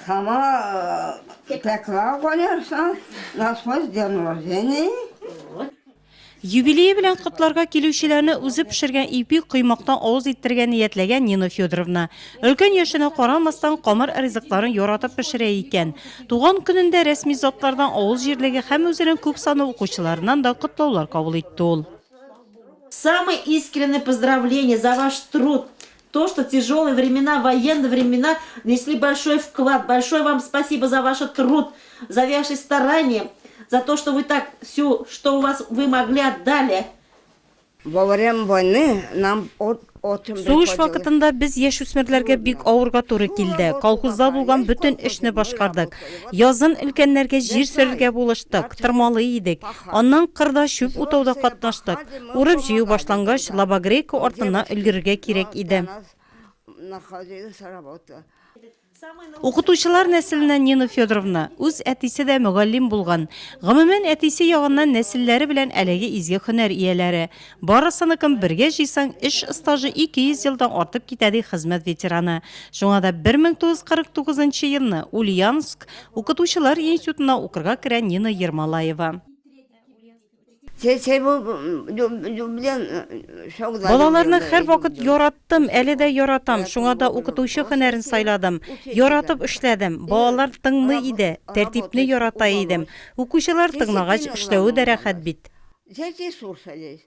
Сама пекла конерсон, насвой ден рождения. Юбилее белән котларга килүчеләрне үзе пешергән ипи коймактан авыз иттерергә ниятләгән Нина Федоровна. Өлкән яшенә карамастан, камыр ризыкларын яратып пешерә икән. Туган көнендә рәсми затлардан, авыл җирлеге һәм үзенең күп санлы укучыларыннан да котлаулар кабул итте ул. Самые искренние поздравления за ваш труд, То что тяжелые времена военные времена внесли большой вклад большое вам спасибо за ваше труд за ваши старания за то что вы так всю что у вас вы могли отдали. Во время войны нам от Сугыш вакытында без яшүсмерләргә бик авырга туры килде. Колхозда булган бөтен эшне башкардык. Язын өлкәннәргә җир сөрергә булыштык, тырмалый идек. Аннан кырда чүп утауда катнаштык. Урып-җыю башлангач, Лабогрейка артына өлгерергә кирәк иде. Укытучылар нәселеннән Нина Федоровна, үз әтисе дә мөгаллим булган. Гомумән, әтисе ягыннан нәселләре белән әлеге изге һөнәр ияләре. Барысыныкын бергә җыйсаң, эш стажы 200 елдан артып китә, ди хезмәт ветераны. Шуңа да 1949 нчы елны Ульяновск укытучылар институтына укырга керә Нина Ермолаева. Балаларны һәрвакыт яраттым, әле дә яратам, шуңа да укытучы һөнәрен сайладым. Яратып эшләдем. Балалар тыңлый иде, тәртипне ярата идем. Укучылар тыңлагач, эшләве дә рәхәт бит. Зәйти сур сәләйс.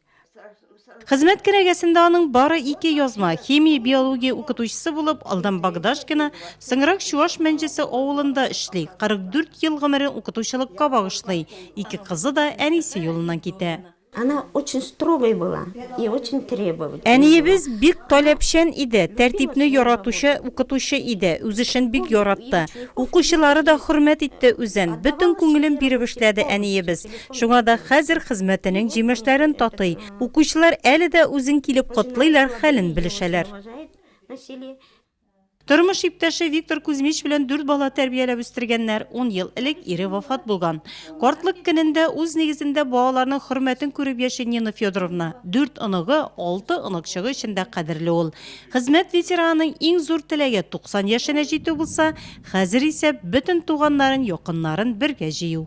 Хезмәт кенәгәсендә аның бары ике язма, химия, биология укытучысы булып Алдан Богдашкина, соңрак Чуаш Мәнҗесе авылында эшли, 44 ел гомерен укытучылыкка багышлый, ике кызы да әнисе юлыннан китә. Она очень строгой была и очень требовательной. Әниебез бик таләпчән иде, тәртипне яратучы укытучы иде, үз эшен бик яратты. Укучылары да хөрмәт итте үзен. Бөтен күңелен биреп эшләде әниебез. Шуңа да хәзер хезмәтенең җимешләрен татый. Укучылар әле дә үзен килеп котлыйлар, хәлен белешәләр. Тормыш иптәше Виктор Кузьмич белән дүрт бала тәрбияләп үстергәннәр. Ун ел элек ире вафат булган. Картлык көнендә үз нигезендә балаларның хөрмәтен күреп яши Нина Федоровна. Дүрт оныгы, алты оныкчыгы өчен дә кадерле ул. Хезмәт ветеранының иң зур теләге, 90 яшенә җитү булса, Хәзер исә бөтен туганнарын, якыннарын бергә җыю.